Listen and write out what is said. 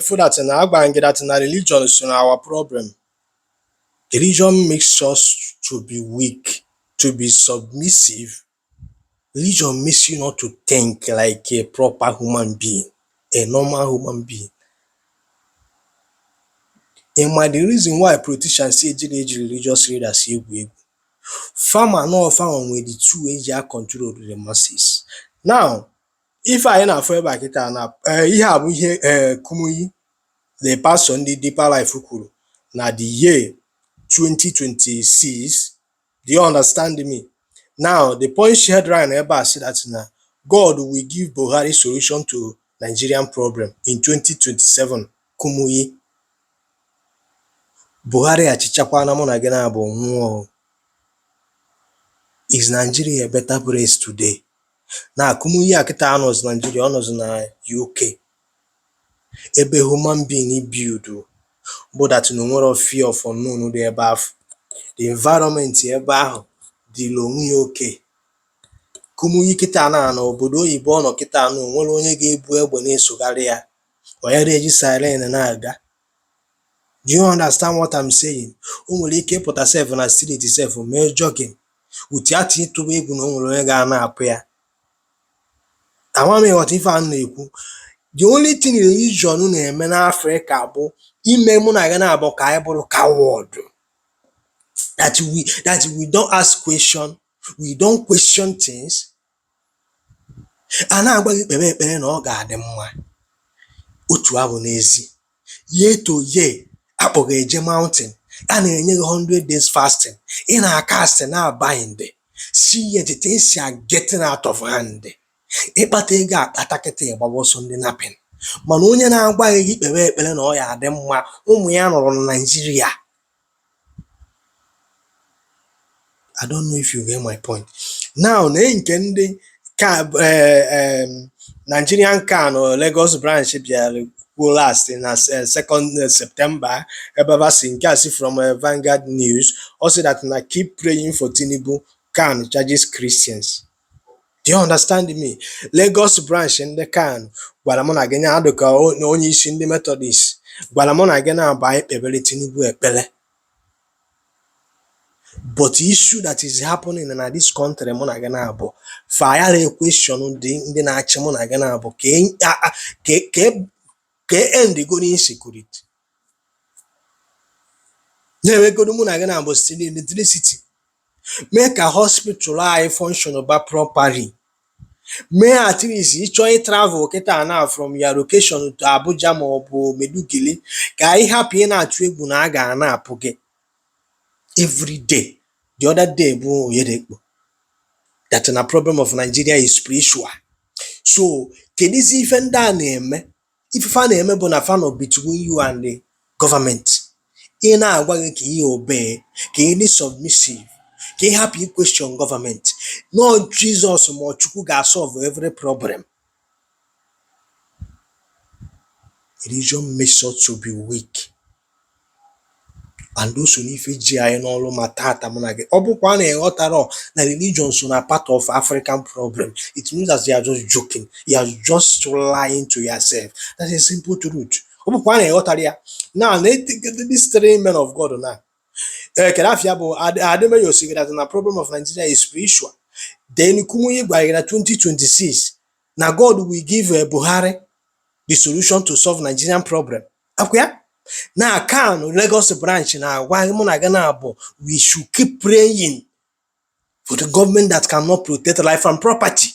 feel that na agbanyeghị that na religion so na our problem religion makes us to be weak to be submissive religion makes you not to think like a proper human being a normal human being ị ma the reason why politicians si eji na-eji religious leaders egwu egwu fama na ọfama nwere the two eji a control the masses now ife anyị na-afụ ebe a kịta na ee, ihe a bụ ihe ee, Kumuyi the pastor ndị Deeper Life kwuru na the year 2026 do you understand me now the Punch headline ebe a sị that na God will give Buhari solution to Nigerian problem in 2027 Kumuyi Buhari achịchakwana mụ na gị naabọ nwụọ is Nigeria a better place today na Kumuyi a kịta anọzi Naịjirịa ọ nọzi na UK ebe human being build bụ that na o nwere fear of unknown dị ebe afụ the environment ebe ahụ dịla onwe ya okay Kumuyi kịta na na obodo oyibo ọ nọ kịta na o nwerọ onye ga-ebu egbe na-esogharị ya onye na-eji siren na-aga Do you understand what I'm saying? O nwere ike ịpụta sef na street sef mee jogging without ịtụba egwu na o nwere onye ga-anapụ ya. Ama m ịghọta ife a m na-ekwu. The only thing religion na-eme n'Afrịka bụ ime mụ na gị naabọ ka anyị bụrụ coward. That we that we don't ask question, we don't question things, A na-agwa gị kpebe ekpere na ọ ga-adị mma. Otu ahụ n'ezi. Year to year, a kpọ gị eje mountain. A na-enye gị 100 days fasting. Ị na-acast na-abind. Still yet things are getting out of hand. Ị kpata ego akpata kịta ị gbawa ọsọ ndị napping. Mana onye na-agwa gị kpebe ekpere na ọ ya-adị mma, ụmụ ya nọrọ na Naịjirịa. I don't know if you get my point. Now na nke ndị CAN eh, Nigerian CAN nọ Lagos branch bịara kwuo last na eh, second eh, September ebe ba si nke a si from Vanguard News ọ sị that na keep praying for Tinubu CAN charges Christians. Do you understand me? Lagos branch ndị CAN gwara mụ na gị nya dịka onye isi ndị Methodist gwara mụ na gị naabọ anyị kpebere Tinubu ekpere but issue that is happening na this country mụ na gị naabọ fayara question dị ndị na-achị mụ na gị naabọ ka e- a- a- ka e- ka e- ka e end godu insecurity na-enyegodu mụ na gị naabọ steady electricity mee ka hospital anyị function ba properly mee at least ị chọọ ịtravel kịta na from your location to Abuja ma ọ bụ Maiduguri ka anyị hapụ ịna-atụ egwu na a ga-anapụ gị every day the other day bụ Oyedepo that na problem of Nigeria is spiritual so kedizi ife ndị a na-eme ife fa na-eme bụ na fa nọ between you and the government ị na-agwa gị ka ị obey ka ị dị submissive ka ị hapụ ịquestion government na ọ Jizọs ma ọ Chukwu ga-asolve every problem religion makes us to be weak and o so n'ife ji anyị n'ọlụ ma tata mụ na gị ọ bụkwa na ị ghọtarọ na religion so na part of African problem it means that you are just joking you are just lying to yourself that's a simple truth ọ bụkwa na ị ghọtarọ ya now these three men of God now ee eh, kedụ afa ya bụ Ademeyo sigara na problem of Nigeria is spiritual then Kumuyi gwara na 2026 na God will give eh, Buhari the solution to solve Nigerian problem akwa na CAN Lagos branch na-agwa mụ na gị na-abụ we should keep praying for the government that cannot protect life and property